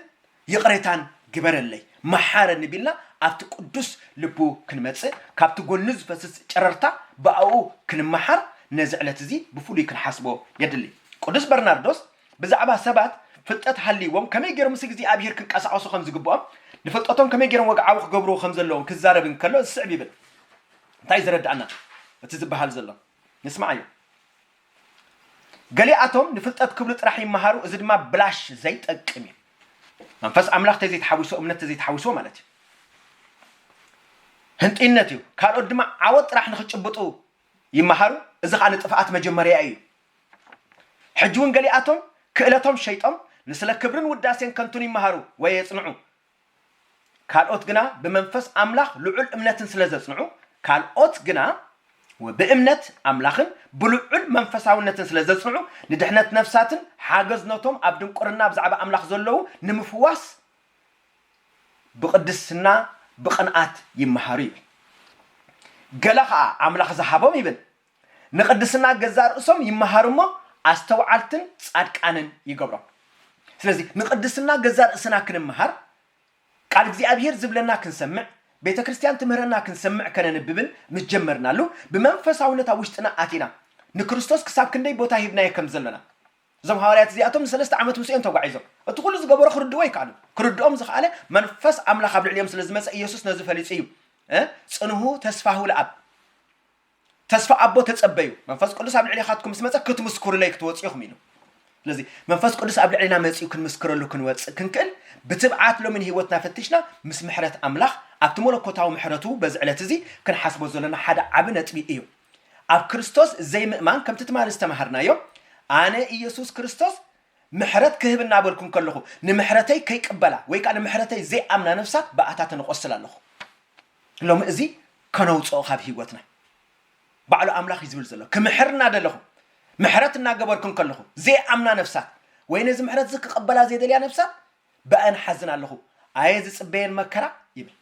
ይቕሬታን ግበረለይ መሓረኒ ቢልና ኣብቲ ቅዱስ ልቡ ክንመጽእ ካብቲ ጎኑ ዝፈስስ ጨረርታ ብኣኡ ክንመሓር ነዚ ዕለት እዚ ብፍሉይ ክንሓስቦ የድሊ። ቅዱስ በርናርዶስ ብዛዕባ ሰባት ፍልጠት ሃልይዎም ከመይ ገይሮም ምስ እግዚኣብሄር ክንቀሳቐሱ ከም ዝግብኦም፣ ንፍልጠቶም ከመይ ገይሮም ወግዓዊ ክገብርዎ ከም ዘለዎም ክዛረብ እንከሎ ዝስዕብ ይብል። እንታይ እዩ ዘረድኣና እቲ ዝበሃል ዘሎ? ንስምዓዮ። ገሊኣቶም ንፍልጠት ክብሉ ጥራሕ ይመሃሩ፣ እዚ ድማ ብላሽ ዘይጠቅም እዩ። መንፈስ ኣምላኽ ተዘይተሓዊሶ፣ እምነት ተዘይተሓዊሶ ማለት እዩ። ህንጥይነት እዩ። ካልኦት ድማ ዓወት ጥራሕ ንክጭብጡ ይመሃሩ፣ እዚ ከዓ ንጥፍኣት መጀመርያ እዩ። ሕጂውን ገሊኣቶም ክእለቶም ሸይጦም ንስለ ክብርን ውዳሴን ከንቱን ይመሃሩ ወይ የጽንዑ። ካልኦት ግና ብመንፈስ ኣምላኽ ልዑል እምነትን ስለ ዘጽንዑ ካልኦት ግና ብእምነት ኣምላኽን ብልዑል መንፈሳውነትን ስለ ዘጽንዑ ንድሕነት ነፍሳትን ሓገዝ ነቶም ኣብ ድንቁርና ብዛዕባ ኣምላኽ ዘለዉ ንምፍዋስ ብቕድስና ብቕንኣት ይመሃሩ ይብል። ገለ ኸኣ ኣምላኽ ዝሃቦም ይብል ንቅድስና ገዛእ ርእሶም ይመሃሩ እሞ ኣስተውዓልትን ጻድቃንን ይገብሮም። ስለዚ ንቅድስና ገዛእ ርእስና ክንመሃር፣ ቃል እግዚኣብሄር ዝብለና ክንሰምዕ፣ ቤተ ክርስቲያን ትምህረና ክንሰምዕ ከነንብብን ምስ ጀመርናሉ ብመንፈሳውነት ኣብ ውሽጥና ኣቲና ንክርስቶስ ክሳብ ክንደይ ቦታ ሂብናዮ ከም ዘሎና እዞም ሃዋርያት እዚኣቶም ንሰለስተ ዓመት ምስኡ እዮም ተጓዒዞም። እቲ ኩሉ ዝገበሮ ክርድእዎ ኣይከኣሉን። ክርድኦም ዝኸኣለ መንፈስ ኣምላኽ ኣብ ልዕሊኦም ስለ ዝመጸ ኢየሱስ ነዚ ፈሊጡ እዩ እ ጽንሁ ተስፋሁ ለኣብ ተስፋ ኣቦ ተጸበዩ፣ መንፈስ ቅዱስ ኣብ ልዕሌኻትኩም ምስ መጸ ክትምስኩሩለይ ክትወጹ ኢኹም ኢሉ። ስለዚ መንፈስ ቅዱስ ኣብ ልዕሌና መጺኡ ክንምስክረሉ ክንወጽእ ክንክእል ብትብዓት ሎሚ ንህይወትና ፈቲሽና ምስ ምሕረት ኣምላኽ ኣብቲ መለኮታዊ ምሕረቱ በዚ ዕለት እዚ ክንሓስቦ ዘሎና ሓደ ዓቢ ነጥቢ እዩ። ኣብ ክርስቶስ ዘይምእማን ከምቲ ትማሊ ዝተማሃርናዮ ኣነ ኢየሱስ ክርስቶስ ምሕረት ክህብ እናበልኩ እንከለኹ ንምሕረተይ ከይቅበላ ወይ ከኣ ንምሕረተይ ዘይኣምና ነፍሳት ብኣታተን እቖስል ኣለኹ። ሎሚ እዚ ከነውጽኦ ካብ ሂወትና ባዕሉ ኣምላኽ እዩ ዝብል ዘሎ ክምሕር እናደለኹም ምሕረት እናገበርኩ እንከለኹ ዘይኣምና ነፍሳት ወይ ነዚ ምሕረት እዚ ክቕበላ ዘይደልያ ነፍሳት ብኣን ሓዝን ኣለኹ ኣየ ዝጽበየን መከራ ይብል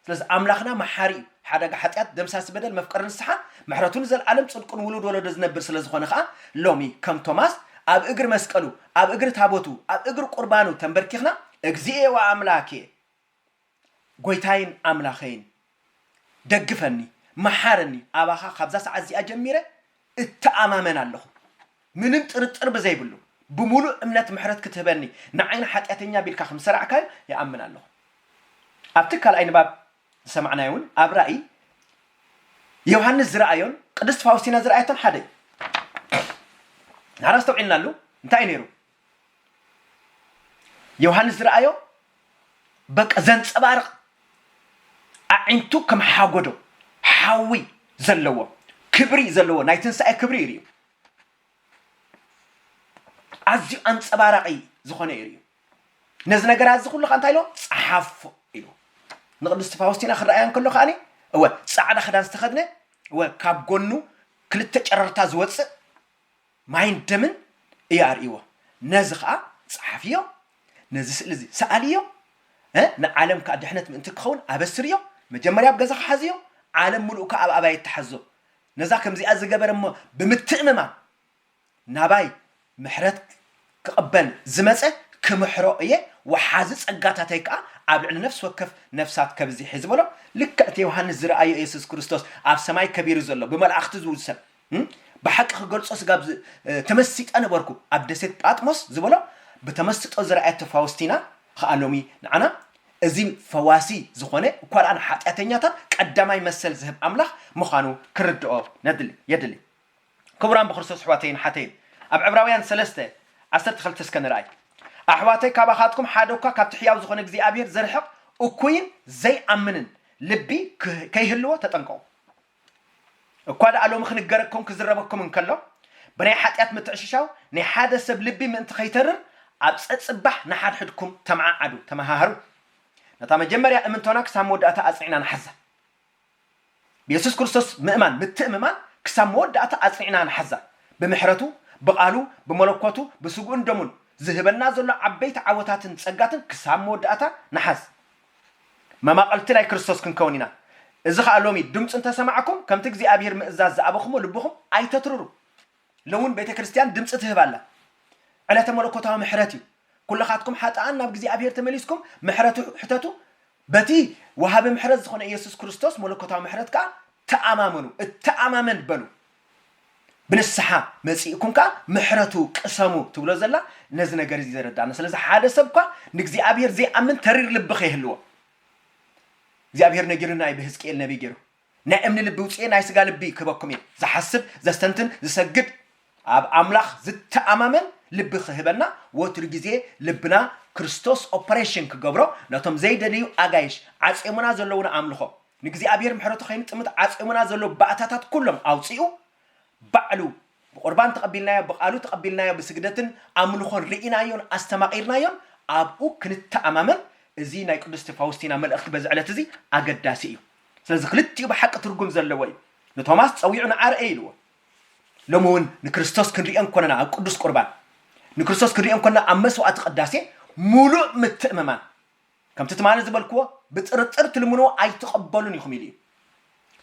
ስለዚ ኣምላኽና መሓሪ እዩ ሓደጋ ሓጢኣት ደምሳሲ በደል መፍቀሪ ንስሓ ምሕረቱ ንዘለዓለም ጽድቁን ውሉድ ወለዶ ዝነብር ስለ ዝኾነ ኸኣ ሎሚ ከም ቶማስ ኣብ እግሪ መስቀሉ ኣብ እግሪ ታቦቱ ኣብ እግሪ ቁርባኑ ተንበርኪኽና እግዚኤ ወኣምላኬ ጎይታይን ኣምላኸይን ደግፈኒ መሓረኒ ኣባኻ ካብዛ ሰዓት እዚኣ ጀሚረ እተኣማመን ኣለኹ ምንም ጥርጥር ብዘይብሉ ብምሉእ እምነት ምሕረት ክትህበኒ ንዓይን ሓጢኣተኛ ቢልካ ከም ዝሰራዕካዮ ይኣምን ኣለኹ ኣብቲ ካልኣይ ንባብ ዝሰማዕናዮ እውን ኣብ ራእይ ዮሃንስ ዝረኣዮን ቅድስት ፋውስቲና ዝረኣየቶን ሓደ እዩ ናራ ኣስተውዒልናሉ እንታይ እዩ ነይሩ ዮሃንስ ዝረኣዮ በቃ ዘንፀባርቕ ኣዒንቱ ከም ሓጎዶ ሓዊ ዘለዎ ክብሪ ዘለዎ ናይ ትንሳኤ ክብሪ እዩ ርእዩ ኣዝዩ ኣንፀባራቒ ዝኾነ እዩ ርእዩ ነዚ ነገራት እዚ ኩሉ ከዓ እንታይ ኢሎ ፀሓፎ ኢሉ ንቅድስቲ ፋውስቲና ክረኣያ እንከሎ ከዓኒ እወ ፃዕዳ ክዳን ዝተኸድነ እወ ካብ ጎኑ ክልተ ጨረርታ ዝወፅእ ማይን ደምን እዩ ኣርእይዎ። ነዚ ኸኣ ጸሓፍዮ፣ ነዚ ስእሊ እዚ ሰኣልዮ፣ ንዓለም ከኣ ድሕነት ምእንቲ ክኸውን ኣበስርዮ፣ መጀመርያ ኣብ ገዛኻ ሓዝዮ፣ ዓለም ምሉእ ከኣ ኣብ ኣባይት ትሓዞ። ነዛ ከምዚኣ ዝገበረ እሞ ብምትእምማን ናባይ ምሕረት ክቕበል ዝመጸ ክምሕሮ እየ፣ ወሓዚ ጸጋታተይ ከኣ ኣብ ልዕሊ ነፍሲ ወከፍ ነፍሳት ከብዚሕ እየ ዝበሎ ልክዕ እቲ ዮሃንስ ዝረኣዮ የሱስ ክርስቶስ ኣብ ሰማይ ከቢሩ ዘሎ ብመላእኽቲ ዝውሰን ብሓቂ ክገልጾ ስጋብ ዝ ተመሲጠ ነበርኩ ኣብ ደሴት ጳጥሞስ ዝበሎ ብተመስጦ ዝረኣየቶ ፋውስቲና ኸኣ ሎሚ ንዓና እዚ ፈዋሲ ዝኾነ እኳ ደኣ ንሓጢኣተኛታት ቀዳማይ መሰል ዝህብ ኣምላኽ ምዃኑ ክንርድኦ ነድሊ የድሊ ክቡራን ብክርስቶስ ኣሕዋተይን ኣሓተይን ኣብ ዕብራውያን ሰለስተ ዓሰርተ ክልተ እስከ ንርኣይ ኣሕዋተይ ካባኻትኩም ሓደ እኳ ካብቲ ሕያው ዝኾነ እግዚኣብሄር ዝርሕቕ እኩይን ዘይኣምንን ልቢ ክህ ከይህልዎ ተጠንቀቑ እኳ ደኣ ሎሚ ክንገረኩም ክዝረበኩም እንከሎ፣ ብናይ ሓጢኣት ምትዕሽሻው ናይ ሓደ ሰብ ልቢ ምእንቲ ከይተርር፣ ኣብ ጸጽባሕ ንሓድሕድኩም ተመዓዓዱ፣ ተመሃሃሩ። ነታ መጀመርያ እምንቶና ክሳብ መወዳእታ ኣጽኒዕና ንሓዛ። ብየሱስ ክርስቶስ ምእማን፣ ምትእምማን፣ ክሳብ መወዳእታ ኣጽኒዕና ንሓዛ። ብምሕረቱ፣ ብቓሉ፣ ብመለኮቱ፣ ብስግኡን ደሙን፣ ዝህበና ዘሎ ዓበይቲ ዓወታትን ጸጋትን ክሳብ መወዳእታ ንሓዝ። መማቕልቲ ናይ ክርስቶስ ክንከውን ኢና። እዚ ኸኣ ሎሚ ድምፁ እንተ ሰማዕኩም ከምቲ እግዚኣብሄር ምእዛዝ ዝኣበኹምዎ ልብኹም ኣይተትርሩ። ሎሚውን ቤተ ክርስቲያን ድምፂ ትህብ ኣላ። ዕለተ መለኮታዊ ምሕረት እዩ። ኩልኻትኩም ሓጥኣን ናብ እግዚኣብሄር ተመሊስኩም ምሕረቱ ሕተቱ፣ በቲ ወሃቢ ምሕረት ዝኾነ ኢየሱስ ክርስቶስ መለኮታዊ ምሕረት ከኣ ተኣማመኑ፣ እተኣማመን በሉ። ብንስሓ መጺእኩም ከኣ ምሕረቱ ቅሰሙ ትብሎ ዘላ ነዚ ነገር እዚ ዘረድኣና። ስለዚ ሓደ ሰብ እኳ ንእግዚኣብሄር ዘይኣምን ተሪር ልቢ ከይህልዎ እግዚኣብሄር ነጊሩና እዩ ብህዝቅኤል ነቢይ ገይሩ። ናይ እምኒ ልቢ ውጽኤ ናይ ስጋ ልቢ ክህበኩም እየ። ዝሓስብ፣ ዘስተንትን፣ ዝሰግድ፣ ኣብ ኣምላኽ ዝተኣማመን ልቢ ክህበና ወትሩ ግዜ ልብና ክርስቶስ ኦፐሬሽን ክገብሮ ነቶም ዘይደልዩ ኣጋይሽ ዓጽዮምና ዘለዉና ኣምልኾ ንእግዚኣብሔር ምሕረቱ ከይንጥምት ዓጽዮምና ዘሎ ባእታታት ኩሎም ኣውጺኡ ባዕሉ ብቁርባን ተቐቢልናዮ ብቃሉ ተቐቢልናዮ ብስግደትን ኣምልኾን ርኢናዮን ኣስተማቒርናዮን ኣብኡ ክንተኣማመን እዚ ናይ ቅድስቲ ፋውስቲና መልእኽቲ በዚ ዕለት እዚ ኣገዳሲ እዩ ስለዚ ክልቲኡ ብሓቂ ትርጉም ዘለዎ እዩ ንቶማስ ጸዊዑ ንዓ ርኤ ኢልዎ ሎሚ እውን ንክርስቶስ ክንሪኦ እንኮለና ኣብ ቅዱስ ቁርባን ንክርስቶስ ክንሪኦ እንኮለና ኣብ መስዋዕቲ ቅዳሴ ሙሉእ ምትእምማን ከምቲ ትማሊ ዝበልክዎ ብጥርጥር ትልምንዎ ኣይትቐበሉን ኢኹም ኢሉ እዩ።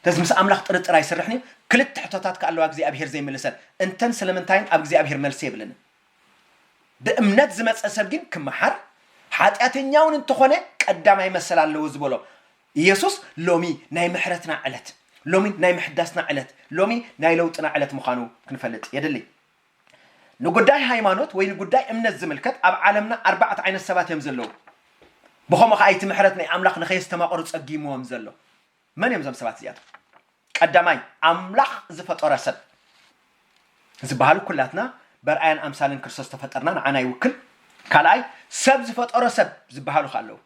ስለዚ ምስ ኣምላኽ ጥርጥር ኣይስርሕን እዩ። ክልተ ሕቶታት ከኣ ኣለዋ እግዚኣብሄር ዘይምልሰን፣ እንተን ስለምንታይን ኣብ እግዚኣብሄር መልሲ የብለንን። ብእምነት ዝመጸ ሰብ ግን ክመሓር፣ ሓጢኣተኛውን እንተኾነ ቀዳማይ መሰል ኣለዎ ዝበሎ ኢየሱስ ሎሚ ናይ ምሕረትና ዕለት፣ ሎሚ ናይ ምሕዳስና ዕለት፣ ሎሚ ናይ ለውጥና ዕለት ምዃኑ ክንፈልጥ የድሊ። ንጉዳይ ሃይማኖት ወይ ንጉዳይ እምነት ዝምልከት ኣብ ዓለምና ኣርባዕተ ዓይነት ሰባት እዮም ዘለዉ። ብኸምኡ ኸኣ እቲ ምሕረት ናይ ኣምላኽ ንኸየስተማቕሩ ጸጊምዎም ዘሎ። መን እዮም እዞም ሰባት እዚኣቶም? ቀዳማይ፣ ኣምላኽ ዝፈጠሮ ሰብ። ዝበሃሉ ኩላትና በርኣያን ኣምሳልን ክርስቶስ ዝተፈጠርና ንዓና ይውክል። ካልኣይ፣ ሰብ ዝፈጠሮ ሰብ ዝበሃሉ ኸኣ ኣለዉ።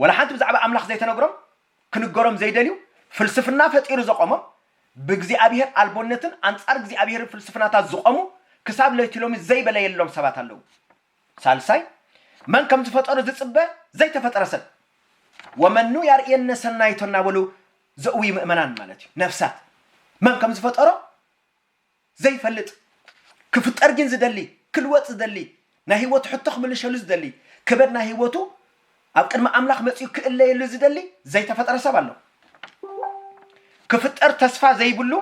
ወላ ሓንቲ ብዛዕባ ኣምላኽ ዘይተነግሮም ክንገሮም ዘይደልዩ ፍልስፍና ፈጢሩ ዘቆሞም ብእግዚኣብሄር ኣልቦነትን ኣንጻር እግዚኣብሄርን ፍልስፍናታት ዝቆሙ ክሳብ ለይቲሎሚ ዘይበለየሎም ሰባት ኣለዉ። ሳልሳይ መን ከም ዝፈጠሮ ዝጽበ ዘይተፈጠረ ሰብ ወመኑ ያርእየነ ሰናይቶ እናበሉ ዘእውዩ ምእመናን ማለት እዩ። ነፍሳት መን ከም ዝፈጠሮ ዘይፈልጥ ክፍጠር ጊን ዝደሊ ክልወጥ ዝደሊ ናይ ሂወቱ ሕቶ ክምልሸሉ ዝደሊ ከበድ ናይ ሂወቱ ኣብ ቅድሚ ኣምላኽ መጺኡ ክእለየሉ ዝደሊ ዘይተፈጠረ ሰብ ኣሎ ክፍጠር ተስፋ ዘይብሉ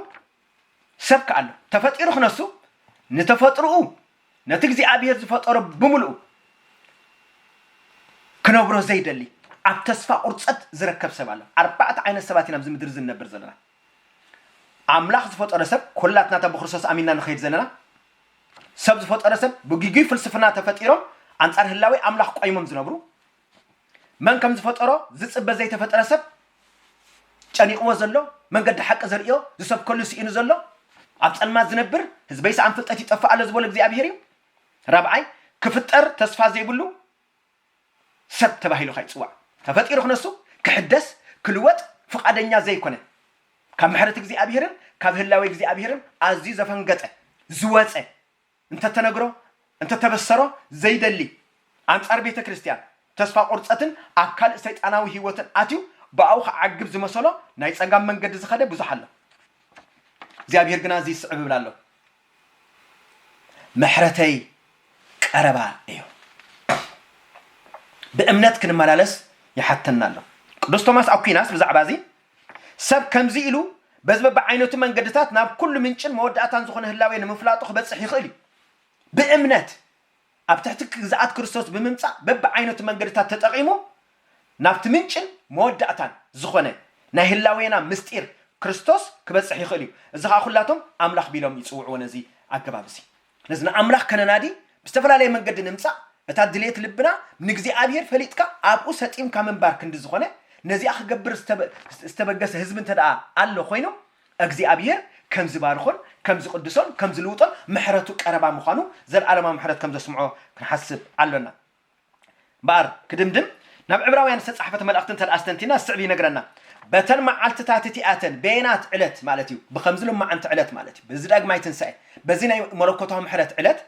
ሰብ ከ ኣሎ ተፈጢሩ ክነሱ ንተፈጥርኡ ነቲ እግዚኣብሔር ዝፈጠሮ ብምልኡ ክነብሮ ዘይደሊ ኣብ ተስፋ ቁርጸት ዝረከብ ሰብ ኣሎ ኣርባዕተ ዓይነት ሰባት ኢና ኣብዚ ምድሪ ዝንነብር ዘለና ኣምላኽ ዝፈጠሮ ሰብ ኩላትና እታ ብክርስቶስ ኣሚንና ንኸይድ ዘለና ሰብ ዝፈጠሮ ሰብ ብግጉይ ፍልስፍና ተፈጢሮም ኣንጻር ህላዊ ኣምላኽ ቆይሞም ዝነብሩ መን ከም ዝፈጠሮ ዝጽበ ዘይተፈጠረ ሰብ ጨኒቕዎ ዘሎ መንገዲ ሓቂ ዘርእዮ ዝሰብከሉ ስኢኑ ዘሎ ኣብ ጸልማት ዝነብር ህዝበይ ሰኣን ፍልጠት ይጠፍእ ኣሎ ዝበሎ እግዚኣብሄር እዩ ራብዓይ ክፍጠር ተስፋ ዘይብሉ ሰብ ተባሂሉ ካይጽዋዕ ተፈጢሩ ክነሱ ክሕደስ ክልወጥ ፍቓደኛ ዘይኮነ ካብ ምሕረት እግዚኣብሔርን ካብ ህላዌ እግዚኣብሔርን ኣዝዩ ዘፈንገጠ ዝወጸ እንተተነግሮ እንተተበሰሮ ዘይደሊ ኣንጻር ቤተ ክርስቲያን ተስፋ ቁርጸትን ኣብ ካልእ ሰይጣናዊ ሕይወትን ኣትዩ ብኣኡ ክዓግብ ዝመሰሎ ናይ ጸጋም መንገዲ ዝኸደ ብዙሕ ኣሎ እግዚኣብሔር ግና እዚ ይስዕብ እብል ኣሎኹ ምሕረተይ ቀረባ እዩ። ብእምነት ክንመላለስ ይሓተና ኣሎ። ቅዱስ ቶማስ ኣኲናስ ብዛዕባ እዚ ሰብ ከምዚ ኢሉ በዚ በብዓይነቱ መንገድታት ናብ ኩሉ ምንጭን መወዳእታን ዝኾነ ህላዌ ንምፍላጡ ክበጽሕ ይኽእል እዩ። ብእምነት ኣብ ትሕቲ ግዝኣት ክርስቶስ ብምምጻእ በብዓይነቱ መንገድታት ተጠቒሙ ናብቲ ምንጭን መወዳእታን ዝኾነ ናይ ህላዌና ምስጢር ክርስቶስ ክበጽሕ ይኽእል እዩ። እዚ ኸኣ ኩላቶም ኣምላኽ ቢሎም ይጽውዕዎ ነዚ ኣገባብ እዚ። ስለዚ ንኣምላኽ ከነናዲ ብዝተፈላለየ መንገዲ ንምጻእ እታ ድልየት ልብና ንእግዚኣብሔር ፈሊጥካ ኣብኡ ሰጢምካ ምንባር ክንዲ ዝኾነ ነዚኣ ክገብር ዝተበገሰ ህዝቢ እንተደኣ ኣሎ ኮይኑ እግዚኣብሄር ከም ዚባርኾን ከም ዚቕድሶን ከም ዚልውጦን ምሕረቱ ቀረባ ምዃኑ ዘለኣለማዊ ምሕረት ከም ዘስምዖ ክንሓስብ ኣሎና። እምበኣር ክድምድም ናብ ዕብራውያን ዝተጻሕፈት መልእኽቲ እንተድኣ ኣስተንቲና ዝስዕብ ይነግረና፣ በተን መዓልትታት እቲኣተን፣ በየናት ዕለት ማለት እዩ፣ ብኸምዚ ሎማዕንቲ ዕለት ማለት እዩ፣ በዚ ዳግማይ ትንሳኤ፣ በዚ ናይ መለኮታዊ ምሕረት ዕለት፣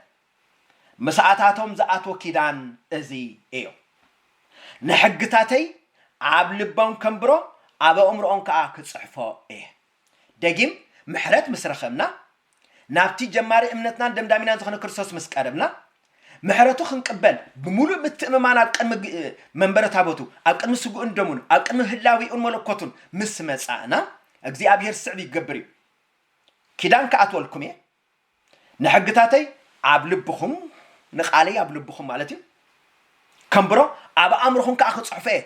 ምስኣታቶም ዝኣትዎ ኪዳን እዚ እዮ። ንሕግታተይ ኣብ ልቦም ከንብሮ ኣብ ኣእምሮኦም ከኣ ክጽሕፎ እየ። ደጊም ምሕረት ምስ ረኸብና፣ ናብቲ ጀማሪ እምነትናን ደምዳሚናን ዝኾነ ክርስቶስ ምስ ቀረብና፣ ምሕረቱ ክንቅበል ብምሉእ ምትእምማን ኣብ ቅድሚ መንበረ ታቦቱ፣ ኣብ ቅድሚ ስግኡን ደሙን፣ ኣብ ቅድሚ ህላዌኡን መለኮቱን ምስ መጻእና፣ እግዚኣብሔር ዝስዕብ ክገብር እዩ። ኪዳን ክኣትወልኩም እየ፣ ንሕግታተይ ኣብ ልብኹም፣ ንቓለይ ኣብ ልብኹም ማለት እዩ፣ ከንብሮ፣ ኣብ ኣእምሮኹም ከኣ ክጽሕፎ እየ።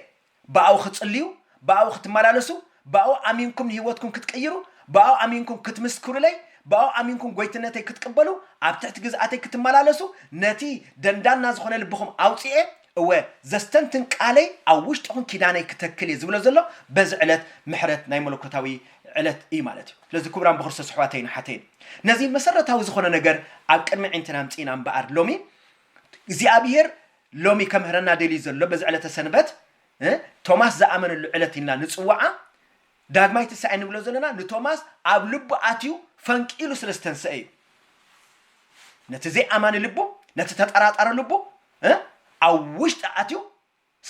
ብኣኡ ክትጽልዩ፣ ብኣኡ ክትመላለሱ፣ ብኣኡ ኣሚንኩም ንህይወትኩም ክትቅይሩ፣ ብኣኡ ኣሚንኩም ክትምስክሩለይ፣ ብኣኡ ኣሚንኩም ጐይትነተይ ክትቅበሉ፣ ኣብ ትሕቲ ግዝኣተይ ክትመላለሱ፣ ነቲ ደንዳና ዝኾነ ልብኹም ኣውጺኤ፣ እወ ዘስተንትን ቃለይ ኣብ ውሽጥኹም ኪዳነይ ክተክል እየ ዝብሎ ዘሎ በዚ ዕለት ምሕረት ናይ መለኮታዊ ዕለት እዩ ማለት እዩ ስለዚ ክቡራን ብክርስቶስ ኣሕዋተይን ኣሓተይን ነዚ መሰረታዊ ዝኾነ ነገር ኣብ ቅድሚ ዒንትና ኣምፂእና እምበኣር ሎሚ እግዚኣብሄር ሎሚ ከምህረና ደልዩ ዘሎ በዚ ዕለተ ሰንበት እ፣ ቶማስ ዝኣመነሉ ዕለት ኢልና ንፅዋዓ ዳግማይ ትንሳኤ ንብሎ ዘለና ንቶማስ ኣብ ልቡ ኣትዩ ፈንቂሉ ስለ ዝተንስአ እዩ ነቲ ዘይኣማኒ ልቡ ነቲ ተጠራጣሪ ልቡ እ ኣብ ውሽጢ ኣትዩ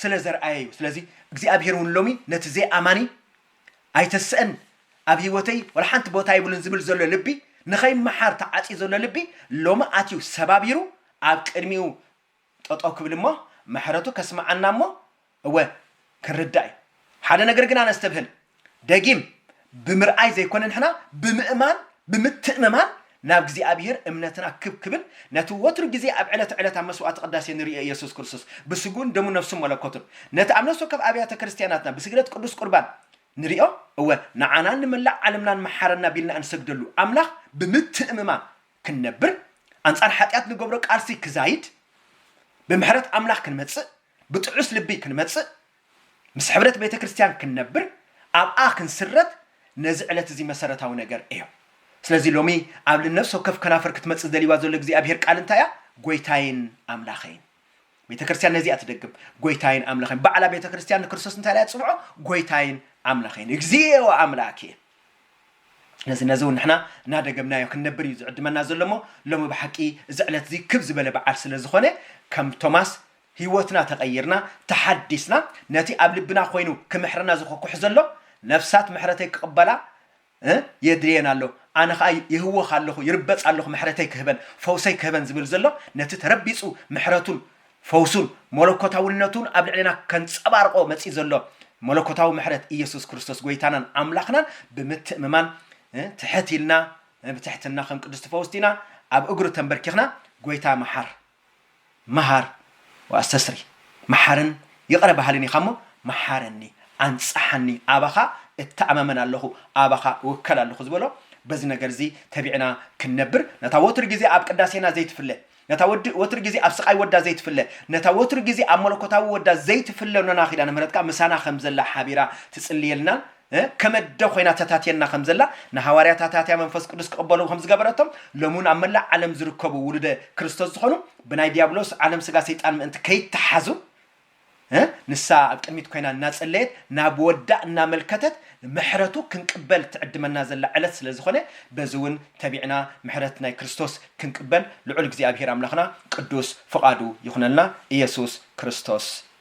ስለ ዘርኣየ እዩ ስለዚ እግዚኣብሄር እውን ሎሚ ነቲ ዘይኣማኒ ኣይተስእን ኣብ ህይወተይ ዋላ ሓንቲ ቦታ ይብሉን ዝብል ዘሎ ልቢ ንኸይመሓር ተዓፅዩ ዘሎ ልቢ ሎሚ ኣትዩ ሰባቢሩ ኣብ ቅድሚኡ ጠጠው ክብል እሞ ምሕረቱ ከስምዓና እሞ እወ ክንርዳእ እዩ ሓደ ነገር ግና ነስተብህል ደጊም ብምርኣይ ዘይኮነ ንሕና ብምእማን ብምትእምማን ናብ እግዚኣብሔር እምነትና ክብ ክብል ነቲ ወትሩ ግዜ ኣብ ዕለተ ዕለት ኣብ መስዋዕተ ቅዳሴ ንርእዮ ኢየሱስ ክርስቶስ ብስግኡን ደሙን ነፍሱን መለኮቱን ነቲ ኣብ ነፍሲ ወከፍ ኣብያተ ክርስቲያናትና ብስግደት ቅዱስ ቁርባን ንርእዮ እወ ንዓናን ንመላእ ዓለምናን መሓረና ቢልና እንሰግደሉ ኣምላኽ ብምትእምማን ክንነብር ኣንጻር ሓጢኣት ንገብሮ ቃልሲ ክዛይድ ብምሕረት ኣምላኽ ክንመጽእ ብጥዑስ ልቢ ክንመጽእ፣ ምስ ሕብረት ቤተ ክርስቲያን ክንነብር፣ ኣብኣ ክንስረት፣ ነዚ ዕለት እዚ መሰረታዊ ነገር እዮ። ስለዚ ሎሚ ኣብ ንነፍሲ ወከፍ ከናፍር ክትመጽእ ደልይዋ ዘሎ እግዚኣብሔር ቃል እንታይ እያ? ጎይታይን ኣምላኸይን። ቤተ ክርስቲያን ነዚ እያ ትደግም፣ ጎይታይን ኣምላኸይን። ባዕላ ቤተ ክርስቲያን ንክርስቶስ እንታይ እያ ትጽውዖ? ጎይታይን ኣምላኸይን፣ እግዚእ ወኣምላኬ። ነዚ ነዚ እውን ንሕና እናደገምናዮ ክንነብር እዩ ዝዕድመና ዘሎ እሞ ሎሚ ብሓቂ እዚ ዕለት እዚ ክብ ዝበለ በዓል ስለ ዝኾነ ከም ቶማስ ህይወትና ተቐይርና ተሓዲስና ነቲ ኣብ ልብና ኮይኑ ክምሕረና ዝኮኩሕ ዘሎ ነፍሳት ምሕረተይ ክቕበላ እ የድልየን ኣሎ ኣነ ከኣ ይህወኽ ኣለኹ ይርበጽ ኣለኹ ምሕረተይ ክህበን ፈውሰይ ክህበን ዝብል ዘሎ ነቲ ተረቢጹ ምሕረቱን ፈውሱን ሞሎኮታውነቱን ኣብ ልዕሌና ከንጸባርቆ መጺኡ ዘሎ ሞሎኮታዊ ምሕረት ኢየሱስ ክርስቶስ ጎይታናን ኣምላኽናን ብምትእምማን እ ትሕት ኢልና እ ብትሕትና ከም ቅዱስቲ ፈውስቲና ኣብ እግሩ ተንበርኪኽና ጎይታ መሓር መሃር ወኣስተስሪ መሓርን ይቕረ በሃልን ኢኻ'ሞ መሓረኒ፣ ኣንጽሓኒ፣ ኣባኻ እተኣማመን ኣለኹ፣ ኣባኻ እውከል ኣለኹ ዝበሎ፣ በዚ ነገር'ዚ ተቢዕና ክንነብር፣ ነታ ወትሩ ግዜ ኣብ ቅዳሴና ዘይትፍለ፣ ነታ ወትሩ ግዜ ኣብ ስቓይ ወዳ ዘይትፍለ፣ ነታ ወትሩ ግዜ ኣብ መለኮታዊ ወዳ ዘይትፍለ ኖና ኪዳነ ምህረትካ ምሳና ከም ዘላ ሓቢራ ትጽልየልናን ከም ኣደ ዀይና ተታትየና ኸም ዘላ፣ ንሃዋርያት ኣታትያ መንፈስ ቅዱስ ኪቕበሉ ኸም ዝገበረቶም፣ ሎሚ እውን ኣብ መላእ ዓለም ዚርከቡ ውሉደ ክርስቶስ ዝዀኑ፣ ብናይ ድያብሎስ ዓለም ስጋ ሰይጣን ምእንቲ ከይተሓዙ፣ ንሳ ኣብ ቅድሚት ኰይና እናጸለየት፣ ናብ ወዳ እናመልከተት፣ ምሕረቱ ክንቅበል ትዕድመና ዘላ ዕለት ስለ ዝዀነ፣ በዚ እውን ተቢዕና ምሕረት ናይ ክርስቶስ ክንቅበል ልዑል እግዚኣብሄር ኣምላኽና ቅዱስ ፍቓዱ ይኹነልና። ኢየሱስ ክርስቶስ